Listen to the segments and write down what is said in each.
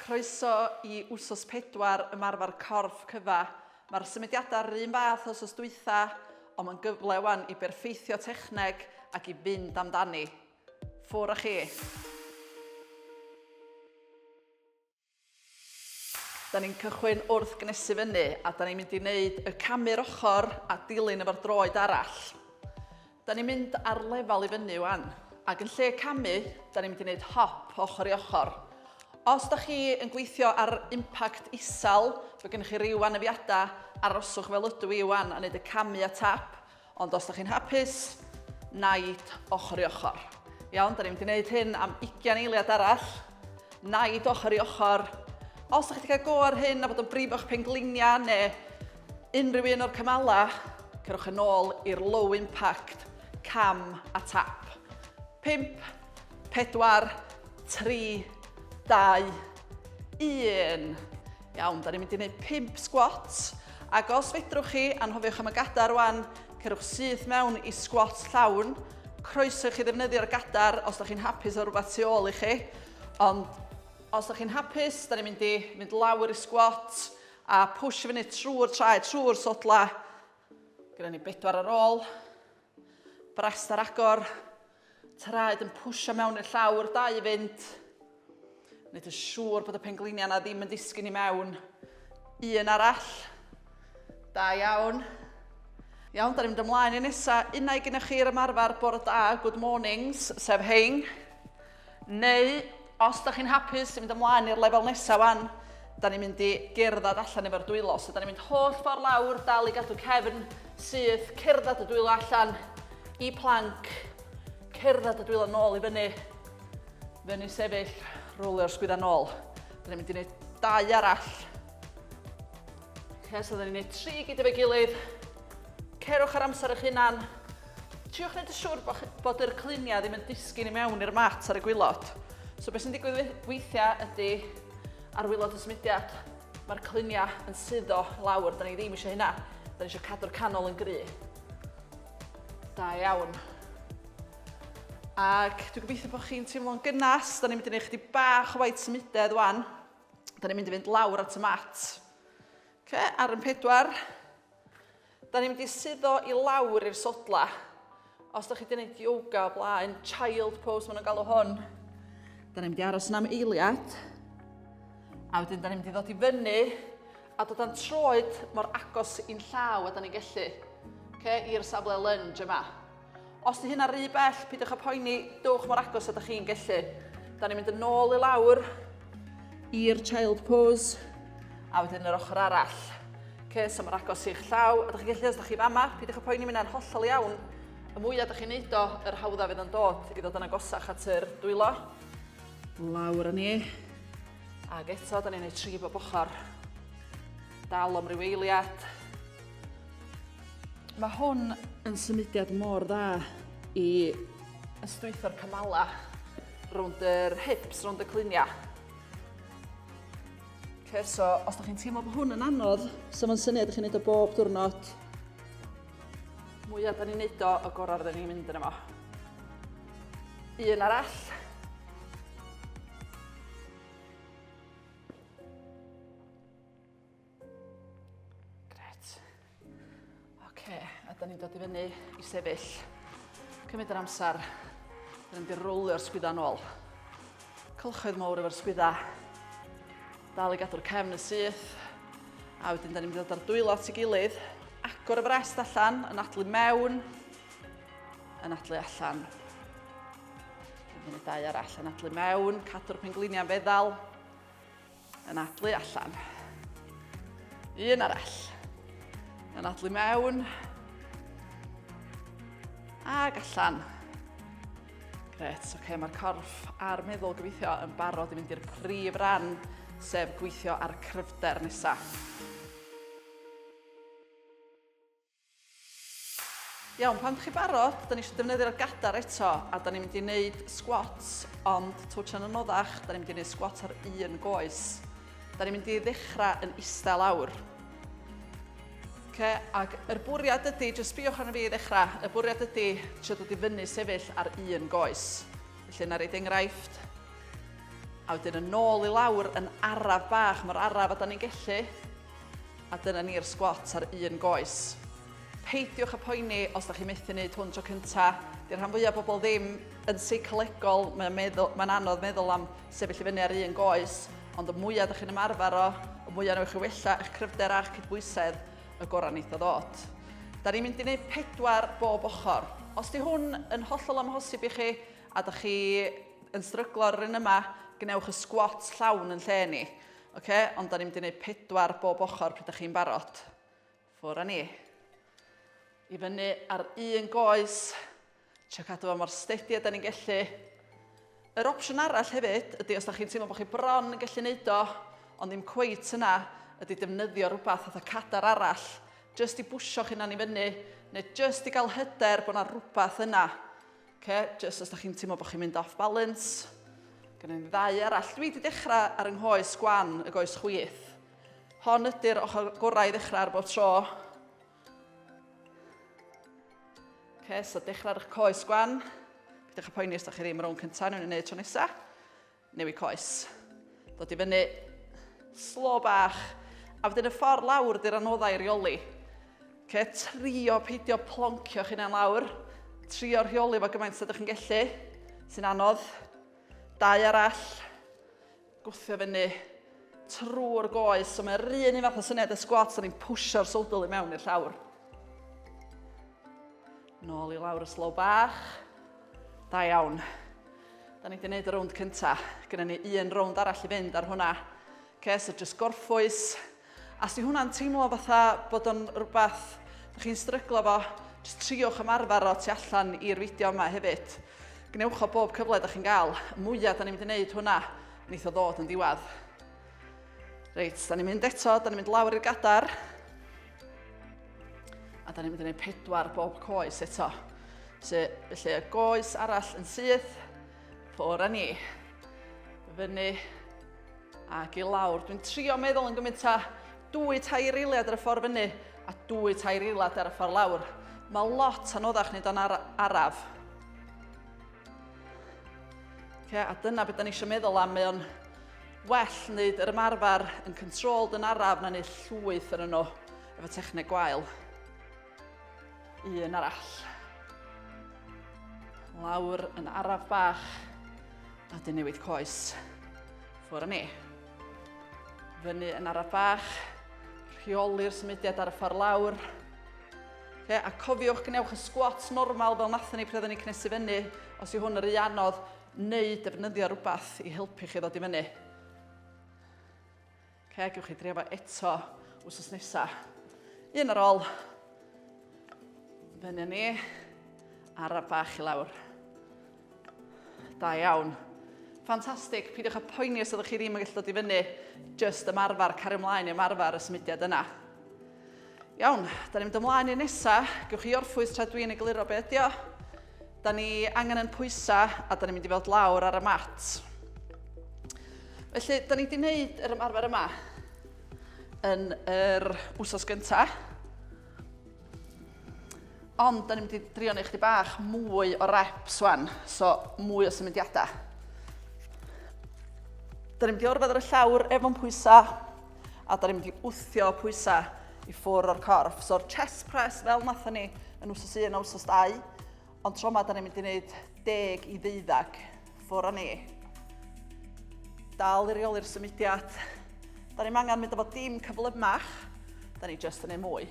Croeso i wsos pedwar ymarfer corff cyfa. Mae'r symudiadau rhywun fath os os dwytha, ond mae'n gyfle wan i berffeithio techneg ac i fynd amdani. Ffwr a chi! Da ni'n cychwyn wrth gnesu fyny a da ni'n mynd i wneud y camu'r ochr a dilyn efo'r droed arall. Da ni'n mynd ar lefel i fyny wan, ac yn lle camu, da ni'n mynd i wneud hop ochr i ochr. Os da chi yn gweithio ar impact isel, fe gennych chi ryw anafiadau, aroswch fel ydw i wan a wneud y camu a tap, Ond os da chi'n hapus, naid ochr i ochr. Iawn, da ni'n gwneud hyn am 20 eiliad arall. Naid ochr i ochr. Os da chi wedi cael go ar hyn a bod yn brif o'ch pengliniau neu unrhyw un o'r cymalau, cerwch yn ôl i'r low impact cam a tap. 5, 4, 3, 2, 1. Iawn, da ni'n mynd i wneud 5 sgwat. Ac os fedrwch chi, anhofiwch am y gadar rwan, cerwch syth mewn i sgwat llawn. Croeso chi ddefnyddio'r gadar os da chi'n hapus o rhywbeth tu ôl i chi. Ond os da chi'n hapus, da ni'n mynd i mynd lawr i sgwat a push i fyny trwy'r traed, trwy'r sodla. Gyda ni bedwar ar ôl. Brest ar agor. Traed yn pwysio mewn i'r llawr, dau i fynd. Nid yn siŵr bod y pengliniau yna ddim yn disgyn i mewn. Un arall. Da iawn. Iawn, da ni'n mynd ymlaen i nesa. Unau gynnwch chi i'r ymarfer bore da, good mornings, sef hein. Neu, os da chi'n hapus i fynd ymlaen i'r lefel nesaf wan, da ni'n mynd i gerdded allan efo'r dwylo. So da ni'n mynd holl ffordd lawr, dal i gadw cefn syth, cerdded y dwylo allan i planc, cerdded y dwylo nôl i fyny, fyny sefyll, rwlio'r sgwydda nôl. Da ni'n mynd i wneud dau arall. Okay, so da ni'n gwneud tri gyd efo'i gilydd. Cerwch ar amser eich hunan. Triwch wneud yn siwr bod, bod yr cluniau ddim yn disgyn i mewn i'r mat ar y gwylod. So beth sy'n digwydd weithiau ydy ar wylod y symudiad, mae'r cluniau yn suddo lawr, da ni ddim eisiau hynna. Da ni eisiau cadw'r canol yn gry. Da iawn. Ac dwi'n gobeithio bod chi'n teimlo'n gynnas. Da ni'n mynd i wneud chdi bach o waith symudedd wan. Da ni'n mynd i fynd lawr at y mat. Okay, ar yn pedwar. Da ni'n mynd i suddo i lawr i'r sodla. Os da chi wedi gwneud yoga o blaen, child pose maen nhw'n galw hwn. Da ni'n mynd i aros yn am eiliad. A wedyn da ni'n mynd i ddod i fyny a dod â'n troed mor agos i'n llaw a da ni'n gallu. Okay, i'r safle lunge yma. Os di hynna rhy bell, pidwch a poeni, dowch mor agos a da chi'n gellu. Da ni'n mynd yn ôl i lawr i'r child pose a wedyn yr ochr arall. Okay, so mor agos i'ch llaw, a da chi'n gallu os da chi fama, pidwch a poeni, mynd hollol iawn. Y mwyaf da chi'n neud o, yr hawdda fydd yn dod i ddod yn agosach at yr dwylo. Lawr â ni. Ac eto, da ni'n neud tri bob ochr. Dal am ryw eiliad. Mae hwn yn symudiad mor dda i ystwytho'r cymalau rownd yr hips, rownd y cluniau. Okay, so os ydych chi'n teimlo bod hwn yn anodd, so mae'n syniad ydych chi'n gwneud o bob diwrnod, mwyaf da ni'n neud o, y gorau rydyn ni'n mynd yn yma. Un arall. Gret. Oce, a da ni'n dod i fyny i sefyll. Cymryd yr amser. Da ni'n mynd i rowlio'r sgwydda yn ôl. Cylchoedd mawr efo'r sgwydda. Dal i gadw'r cefn yn syth. A wedyn da ni'n mynd i ddod ar dwylo at ei gilydd. Agor y frest allan, yn adlu mewn, yn adlu allan. Yn y dau arall yn adlu mewn, cadw'r pengliniau'n feddal. Anadlu allan. Un arall. Anadlu mewn. Ag allan. Gret, oce, okay, mae'r corff a'r meddwl gobeithio yn barod i mynd i'r prif ran, sef gweithio ar y cryfder nesaf. Iawn, pan dych chi barod, da ni eisiau defnyddio'r gadar eto, a da ni'n mynd i wneud squats, ond twtio'n anoddach, da ni'n mynd i wneud squats ar un goes. Da ni'n mynd i ddechrau yn eistedd lawr. Okay, ac yr bwriad ydy, jyst sbiwch arno fi i ddechrau, y bwriad ydy trio dod i fyny sefyll ar un goes. Felly yna reid enghraifft. A wedyn yn ôl i lawr yn araf bach, mae'r araf a da ni'n gellu. A dyna ni'r sgwat ar un goes. Peidiwch â poeni os da chi methu wneud hwn tro cynta. Di'r rhan fwyaf bobl ddim yn seicolegol, mae'n meddwl, mae'n anodd meddwl am sefyll i fyny ar un goes, ond y mwyaf da chi'n ymarfer o, y mwyaf newch chi wella eich cryfder a'ch cydbwysedd, y gorau wneith o ddod. Da ni'n mynd i wneud pedwar bob ochr. Os di hwn yn hollol amhosib i chi a da chi yn stryglo ar yr un yma, gwnewch y sgwat llawn yn lle ni. Oce, ond da ni'n mynd i wneud pedwar bob ochr pryd da chi'n barod. Ffwr a ni. I fyny ar un goes. Trio cadw fo mor stedi a da ni'n gellu. Yr opsiwn arall hefyd ydy os da chi'n teimlo bod chi bron yn gallu neud o, ond ddim cweit yna, ydy defnyddio rhywbeth fatha cadar arall, jyst i bwysio chi'n anifynnu, neu jyst i gael hyder bod yna rhywbeth yna. Oce, jyst os da chi'n teimlo bod chi'n mynd off balance. Gan i'n ddau arall. Dwi wedi dechrau ar yng nghoes gwan y goes chwith. Hon ydy'r ochr gorau i ddechrau ar bob tro. Oce, so dechrau ar eich coes gwan. Pidwch â poeni os da chi ddim rownd cyntaf, nhw'n ei wneud tro nesaf. Newid coes. Dod i fyny. Slo bach. A wedyn y ffordd lawr di'r anoddau rheoli. Okay, trio peidio ploncio'ch hunain lawr. Trio rheoli fo gymaint sydd chi'n gellu. Sy'n anodd. Dau arall. Gwthio fyny trwy'r goes. So mae'r un un fath o syniad y sgwats, o'n i'n pwysio'r sodl i mewn i'r llawr. Nôl i lawr y slow bach. Da iawn. Da ni wedi gwneud y rownd cynta. Gynna ni un rownd arall i fynd ar hwnna. Okay, so just gorffwys. A si hwnna'n teimlo fatha bod o'n rhywbeth ydych chi'n stryglo fo, jyst triwch ymarfer o tu allan i'r fideo yma hefyd. Gwnewch o bob cyfle ydych chi'n gael. Y mwyaf da ni'n mynd i wneud hwnna, wneith o ddod yn ddiwedd. Reit, da ni'n mynd eto, da ni'n mynd lawr i'r gadar. A da ni'n mynd i wneud pedwar bob coes eto. So, felly y goes arall yn syth, ffwr â ni. Fyny ac i lawr. Dwi'n trio meddwl yn gymaint â dwy tair eiliad ar y ffordd fyny a dwy tair eiliad ar y ffordd lawr. Mae lot anoddach nid o'n araf. Okay, a dyna beth da ni eisiau meddwl am, mae o'n well wneud yr ymarfer yn controlled yn araf na wneud llwyth yn yno efo techneg gwael. Un arall. Lawr yn araf bach a dyn newid coes. Ffwr â ni. Fyny yn araf bach, rheoli'r symudiad ar y ffordd lawr. Ie, a cofiwch gwnewch y sgwats normal fel nathon ni pryd oedden ni cnesu fyny, os yw hwn yr rhy anodd, neu defnyddio rhywbeth i helpu chi ddod i fyny. Oce, gewch chi drio fo eto wsos nesa. Un ar ôl. Fyny ni. Araf bach i lawr. Da iawn. Ffantastig, peidiwch â poeni os ydych chi ddim yn gallu dod i fyny, jyst ymarfer, cario ymlaen i ymarfer y symudiad yna. Iawn, da ni'n mynd ymlaen i'r nesa, gewch chi orffwys tra dwi'n egluro be ydi o. Da ni angen yn pwysa a da ni'n mynd i fod lawr ar y mat. Felly, da ni wedi gwneud yr ymarfer yma yn yr wsos gyntaf. Ond, da ni'n mynd i drio neu chdi bach mwy o reps wan, so mwy o symudiadau. Da ni'n mynd i orfod ar y llawr efo'n pwysau, a da ni'n mynd i wthio pwysau i ffwr o'r corff. So'r chest press fel nathon ni yn wsos 1 a wsos 2, Ond tro yma, da ni'n mynd i wneud deg i ddeuddag ffwr a ni. Dal i reoli'r symudiad. Da ni'n angen mynd efo dim cyflymach. Da ni just yn ei mwy.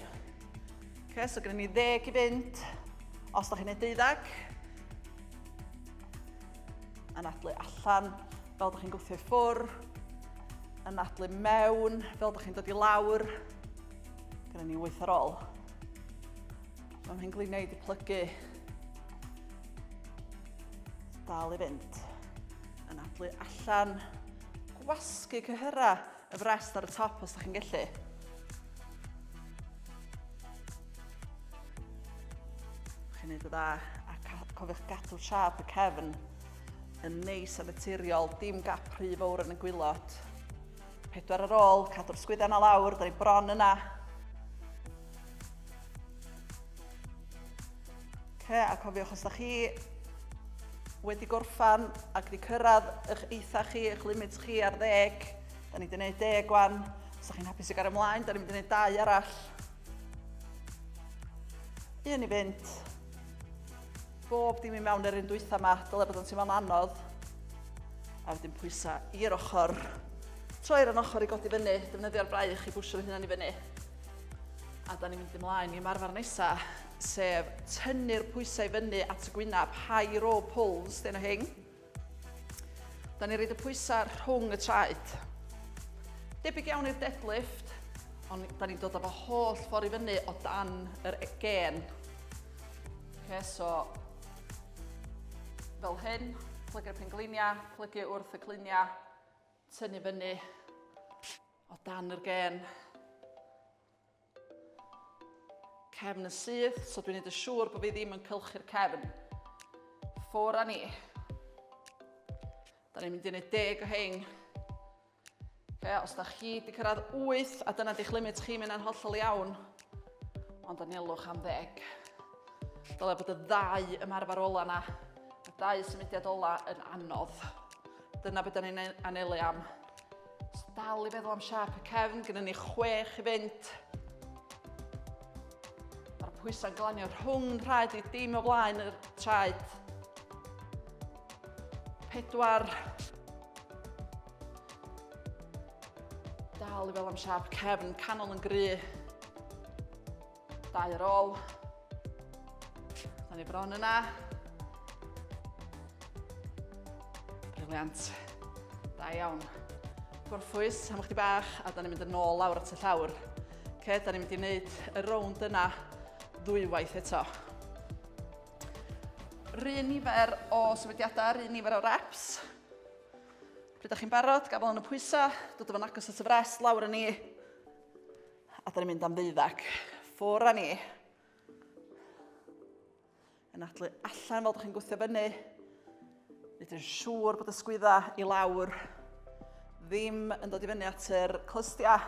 Okay, so gyda ni ddeg i fynd. Os da chi'n ei deuddag, yn adlu allan fel ydych chi'n gwthio i ffwr, yn adlu mewn fel ydych chi'n dod i lawr, gyda ni wyth ar ôl. Mae mhen gliniau wedi plygu. Dal i fynd. Yn adlu allan. Gwasgu cyhyrau y frest ar y top os ydych chi'n gallu. Chi'n gwneud y dda a cofiwch gadw siap y cefn yn neis a naturiol, dim gap rhy fawr yn y gwylod. Pedwar ar ôl, cadw'r sgwydda na lawr, da ni bron yna. Okay, a cofiwch os da chi wedi gorffan ac wedi cyrraedd eich eitha chi, eich limit chi ar ddeg. Da ni wedi gwneud deg wan. Os ydych chi'n hapus i gael ymlaen, da ni'n mynd i wneud dau arall. Un i fynd. bob dim i mewn yr un dwytha yma, dyle bod yn teimlo'n anodd. A wedyn pwysa i'r ochr. Troi ar yn ochr i godi fyny, defnyddio'r braich i bwysio fy hunan i fyny. A da ni'n mynd ymlaen i marfer nesa, sef tynnu'r pwysau fyny at y gwynaf, high row pulls, dyn o hyn. Da ni'n rhaid y pwysau rhwng y traed. Debyg iawn i'r deadlift, ond da ni'n dod â fo holl ffordd i fyny o dan yr e- gen. Okay, so, fel hyn, plygu'r pengliniau, plygu wrth y cliniau, tynnu fyny o dan yr gen. Cefn yn syth, so dwi'n neud yn siŵr bod fi ddim yn cylchu'r cefn. Ffwr a ni. Da ni'n mynd i neud deg o hein. Okay, os da chi di cyrraedd 8 a dyna di'ch limit chi, mynd yna'n hollol iawn. Ond anelwch am ddeg. Dyle bod y ddau ymarfer ola na, y ddau symudiad ola yn anodd. Dyna beth da ni'n anelu am. So dal i feddwl am siarp y cefn, gyda ni chwech i fynd. Mae'r pwysau'n glanio rhwng rhaid i dim o blaen y traed. Pedwar. Dal i feddwl am siarp cefn, canol yn gry. Dau ar ôl. Da ni bron yna. Briliant. Da iawn. Gorffwys am chdi bach a da ni'n mynd yn ôl lawr at y llawr. Ce, da ni'n mynd i wneud y rownd yna ddwywaith eto. Rhyn nifer o sefydiadau, rhyn nifer o reps. Pryd da chi'n barod, gafel yn y pwysau, dod o fan agos at y fres, lawr yn ni. A da ni'n mynd am ddeuddag. Ffwr a ni. Yn adlu allan fel da chi'n gwythio fyny. Nid yn siŵr bod y sgwydda i lawr ddim yn dod i fyny at yr clystiau.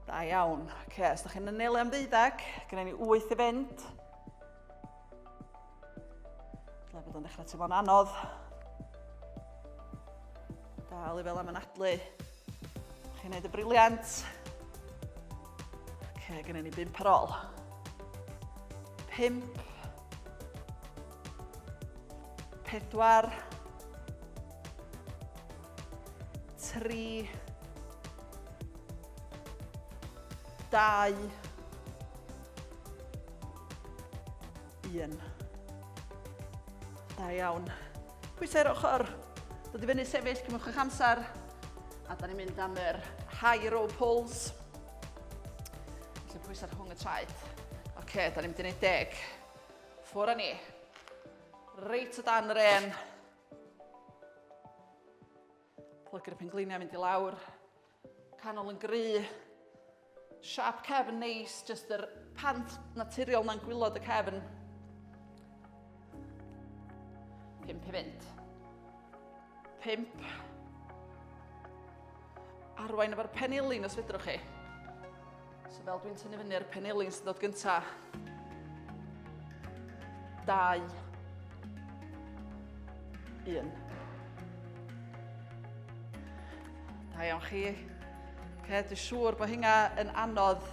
Da iawn. Oce, okay, os da chi'n ynelu am ddeuddag, gyda ni wyth i fynd. Dyle bod o'n dechrau teimlo'n anodd. Dal i fel am anadlu. Chi'n gwneud y briliant. Ok, gynnu ni bimp ar ôl. Pimp. Pedwar. Tri. Pedwar. dau, 1. Da iawn. Pwysau'r ochr. Dod i fyny sefyll, cymwch eich amser. A da ni'n mynd am yr high row pulls. Felly pwysau rhwng y traed. Oce, okay, da ni'n mynd i wneud deg. Ffwr â ni. Reit o dan yr en. Plygu'r pengliniau mynd i lawr. Canol yn gry. Siap cefn neis, jyst yr pant naturiol na'n gwylod y cefn. Pimp i fynd. Pimp. Arwain efo'r penilin os fedrwch chi. So fel dwi'n tynnu fyny ar y penelin sy'n dod gynta. Dau. Un. Da iawn chi. Okay, dwi'n siŵr bod hynna yn anodd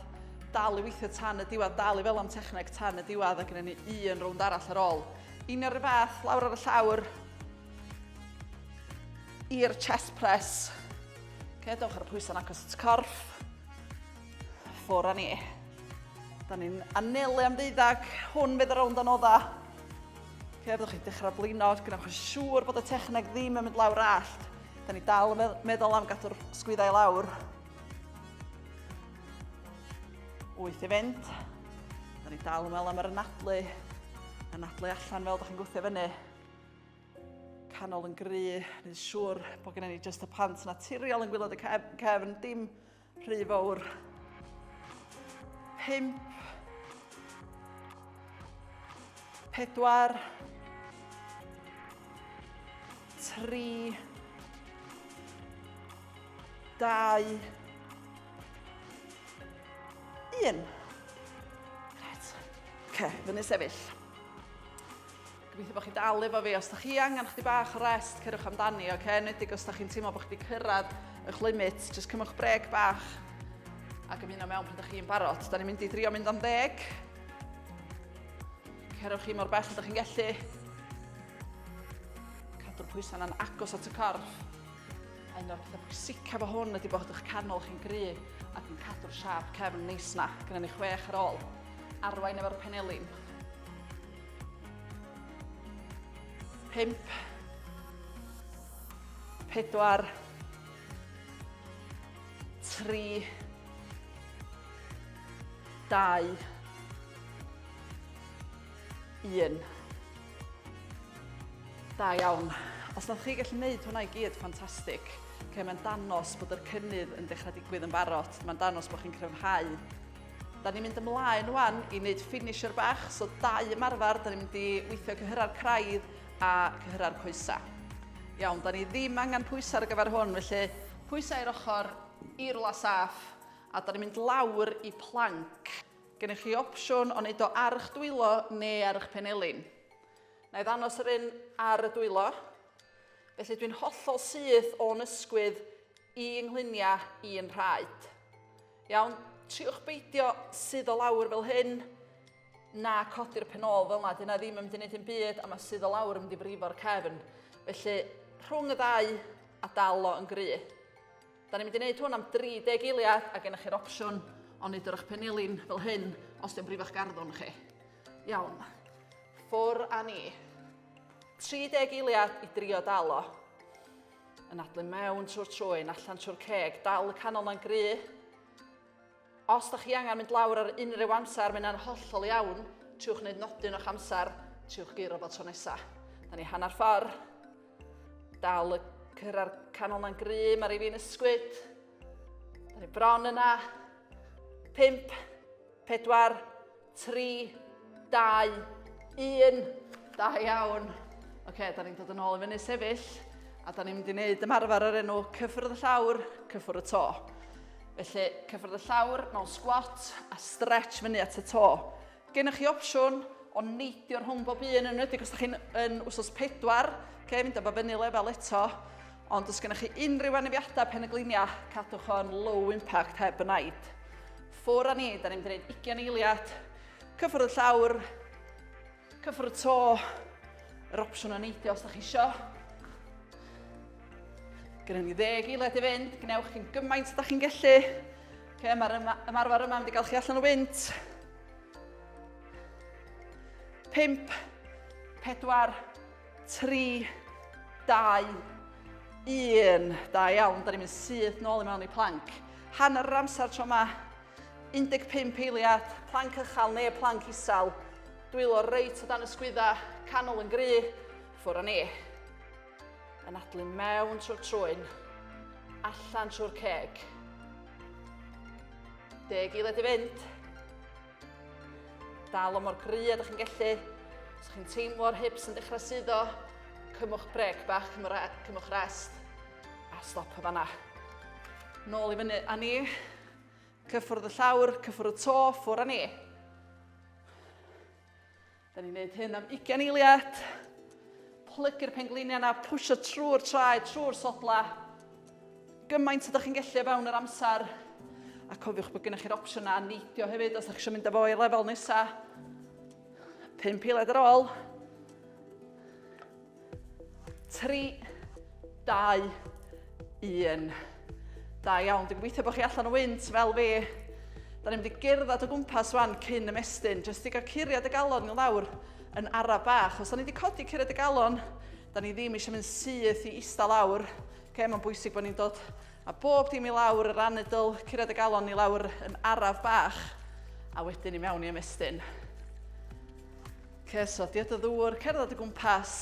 dal i weithio tan y diwedd, dal i fel am techneg tan y diwedd ac yn ni un rownd arall ar ôl. Un o'r fath, lawr ar y llawr, i'r chest press. Okay, dewch ar y pwysau'n agos at corff. Ffwr a ni. Da ni'n anelu am ddeuddag. Hwn fydd y rownd o nodda. Ok, fyddwch chi'n dechrau blino, gynnwch yn siŵr bod y techneg ddim yn mynd lawr allt. Da ni dal yn meddwl am gadw'r sgwyddau lawr. Wyth i fynd. Da ni dal yn meddwl am yr anadlu. Anadlu allan fel da chi'n gwthio fyny. canol yn gry, nid siŵr bod gennym ni just y pant naturiol yn gwylod y cefn, dim rhy fawr. Pimp. Pedwar. Tri. Dau. Un. Right. Ok, fyny sefyll. Gobeithio bod chi'n dal efo fi. Os da chi angen chdi bach o rest, cerwch amdani, oce? Okay? Enwedig os da chi'n teimlo bod chi wedi cyrraedd eich limit, jyst cymwch breg bach ac ymuno mewn pan da chi'n barod. Da ni'n mynd i drio mynd am ddeg. Cerwch chi mor bell da chi'n gellu. Cadw'r pwysau yna'n agos at y corff. A un o'r pethau pwysica fo hwn ydy bod eich canol chi'n gry ac yn cadw'r siap cefn neis na. Gynna ni chwech ar ôl. Arwain efo'r penelin. Pump. Pedwar. Tri. Dau. Un. Da iawn. Os ydych chi gallu gwneud hwnna i gyd, ffantastig. Okay, mae'n danos bod yr cynnydd yn dechrau digwydd yn barod. Mae'n danos bod chi'n cryfhau Da ni'n mynd ymlaen wan i wneud finisher bach, so dau ymarfer, da ni'n mynd i weithio cyhyrra'r craidd a cyhyrra'r coesau. Iawn, da ni ddim angen pwysau ar gyfer hwn, felly pwysau i'r ochr, i rwla saff, a da ni'n mynd lawr i planc. Gennych chi opsiwn o wneud o ar eich dwylo neu ar eich penelin. Na i ddanos yr un ar y dwylo. Felly dwi'n hollol syth o'n ysgwydd i yngluniau i'n rhaid. Iawn, triwch beidio sydd o lawr fel hyn, na codi'r pen ôl fel yna, dyna ddim yn mynd i wneud yn byd, a mae sydd o lawr yn mynd i frifo'r cefn. Felly, rhwng y ddau a dal o yn gry. Da ni'n mynd i wneud hwn am 30 eiliad a gennych chi'r opsiwn o wneud yr eich penilin fel hyn os di'n brifo'ch garddwn chi. Iawn, ffwr a ni. 30 eiliad i drio dal o. Yn adlen mewn trwy'r trwyn, allan trwy'r ceg, dal y canol na'n gry. Os da chi angen mynd lawr ar unrhyw amser, mae'n yna'n hollol iawn. Triwch wneud nodyn o'ch amser, triwch geiro fo tro nesa. Da ni hanner ffordd. Dal y cyrra'r canol na'n gry, mae rhywun fi'n ysgwyd. Da ni bron yna. Pimp, pedwar, 3, 2, 1. Da iawn. Oce, da ni'n dod yn ôl i fyny sefyll a da ni'n mynd i wneud ymarfer o'r enw cyffwrdd y llawr, cyffwrdd y to. Felly, cyffwrdd y llawr mewn sgwat a stretch fyny at y to. Gennych chi opsiwn o neidio rhwng bob un yn wedi os ydych chi'n yn wsos pedwar, okay, mynd efo fyny lefel eto. Ond os gennych chi unrhyw anafiadau pen y gliniau, cadwch o'n low impact heb y naid. Ffwr a ni, da ni'n mynd i wneud ugian eiliad. Cyffwrdd y llawr, cyffwrdd y to, yr opsiwn o neidio os da chi isio. Gynnu ni ddeg eiliad i fynd, gwnewch chi'n gymaint da chi'n gellu. Okay, Mae'r ymarfer yma wedi cael chi allan o wynt. 5, 4, 3, 2, 1. Da iawn, da ni'n mynd syth nôl i mewn i planc. Hanner yr amser tro yma, 15 eiliad, planc ychal neu planc isel. Dwylo reit o dan y sgwydda, canol yn gry, ffwr o ni. Yn adlu mewn trwy'r trwyn, allan trwy'r ceg. Deg eiliad i fynd. Dal o mor gry a dych chi'n gellu. Os chi'n teimlo'r hips yn dechrau suddo, cymwch brec bach, cymwch rest a stop y fanna. Nôl i fyny a ni. Cyffwrdd y llawr, cyffwrdd y to, ffwr a ni. Da ni'n gwneud hyn am 20 eiliad. Plygu'r pengliniau yna, pwysio trwy'r traed, trwy'r sodla. Gymaint ydych chi'n gallu o fewn yr amser. A cofiwch bod gennych chi'r opsiynau a neidio hefyd os ydych chi'n mynd â fo i lefel nesaf. Pum eiliad ar ôl. 3, 2, 1. Da iawn, dwi'n gweithio bod chi allan o wynt fel fi. Da ni'n mynd i gerdded o gwmpas wan cyn ymestyn, jyst i gael curiad y galon i lawr yn ara bach. Os da ni wedi codi curiad y galon, da ni ddim eisiau mynd syth i eista lawr. Okay, mae'n bwysig bod ni'n dod a bob dim i lawr, yr anedl, curiad y galon i lawr yn araf bach, a wedyn i mewn i ymestyn. Cyswllt, diod o ddŵr, cerdded o gwmpas.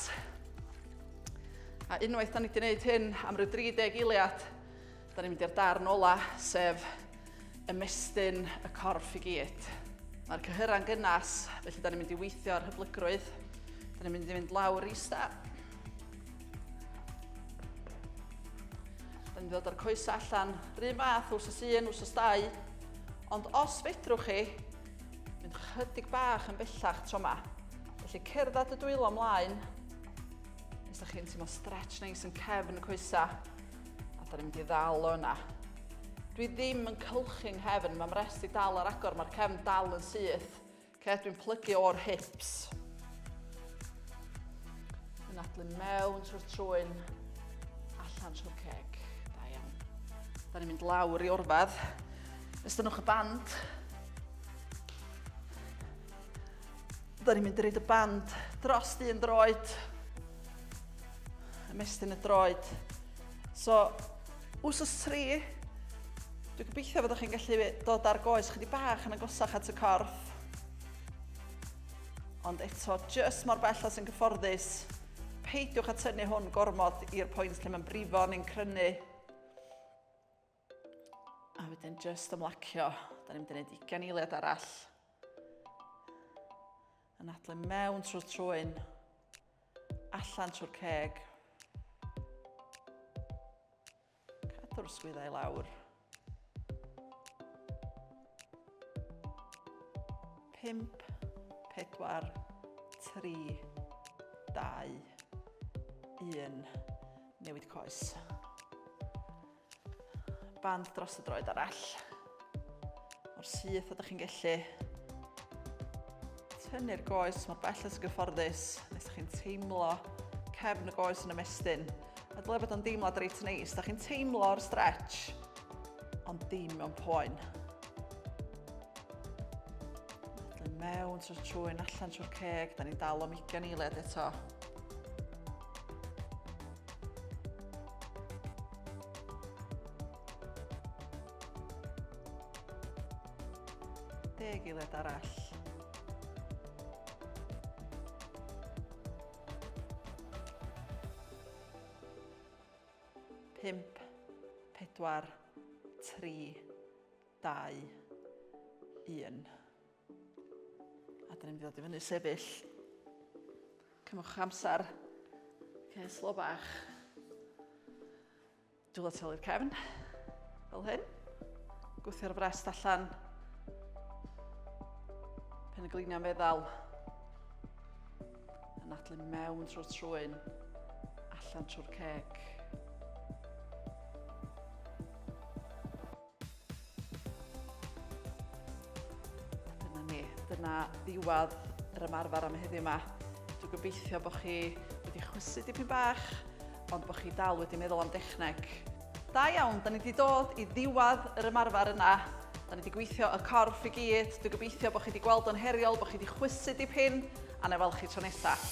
A unwaith da ni wedi gwneud hyn am ryw 30 eiliad, da ni'n mynd i'r darn ola, sef ymestyn y corff i gyd. Mae'r cyhyra'n gynnas, felly da ni'n mynd i weithio ar hyblygrwydd. Da ni'n mynd i fynd lawr i sta. Da ni'n dod o'r coes allan, rhy math, wrth y un, wrth y stau. Ond os fedrwch chi, Mynd chydig bach yn bellach tro ma. Felly cerdded y dwylo mlaen. Os da chi'n teimlo stretch neis yn cefn y coesa. A da ni'n mynd i ddal o yna. Dwi ddim yn cylchu'n nghefn, mae'n rest i dal ar agor, mae'r cefn dal yn syth. Okay, dwi'n plygu o'r hips. Yn adlu mewn trwy'r trwyn, allan trwy'r ceg. Da iawn. Da ni'n mynd lawr i orfad. Estynnwch y band. Da ni'n mynd i reid y band dros un droed. Ymestyn y droed. So, wsos tri, dwi'n gobeithio fod chi'n gallu dod ar goes chydig bach yn agosach at y corff. Ond eto, jyst mor bell as yn gyfforddus, peidiwch a tynnu hwn gormod i'r pwynt lle mae'n brifo neu'n crynu. A wedyn just ymlacio. Da ni'n mynd i wneud ugen eiliad arall. Yn adlu mewn trwy'r trwyn. Allan trwy'r ceg. Cadw'r swyddau lawr. Pimp, pedwar, tri, dau, un. Newid coes. Band dros y droed arall. O'r syth ydych chi'n gallu tynnu'r goes mor bell as gyfforddus nes ydych chi'n teimlo cefn y goes yn ymestyn. A dyle bod o'n deimlad reit neis. Da chi'n teimlo'r stretch, ond dim mewn poen. Dyn mewn trwy'r trwy'n allan trwy'r ceg, da ni'n dal o'm ugen eiliad eto. Deg eiliad arall. Pimp, pedwar, tri, dau, un. A dyn ni'n mynd i ddod i fyny sefyll. Cymwch amser. Okay, slo bach. Dwylo tel i'r cefn. Fel hyn. Gwthio'r frest allan. Pen y gliniau meddal. Yn adlu mewn trwy'r trwy'n. Allan trwy'r ceg. Dyna ni, dyna ddiwedd yr ymarfer am heddiw 'ma. Dwi'n gobeithio bod chi wedi chwysu dipyn bach, ond bod chi dal wedi meddwl am dechneg. Da iawn, da ni wedi dod i ddiwedd yr ymarfer yna. Da ni wedi gweithio y corff i gyd. Dwi'n gobeithio bod chi wedi gweld o'n heriol, bod chi wedi chwysu dipyn, a na i weld chi tro nesaf.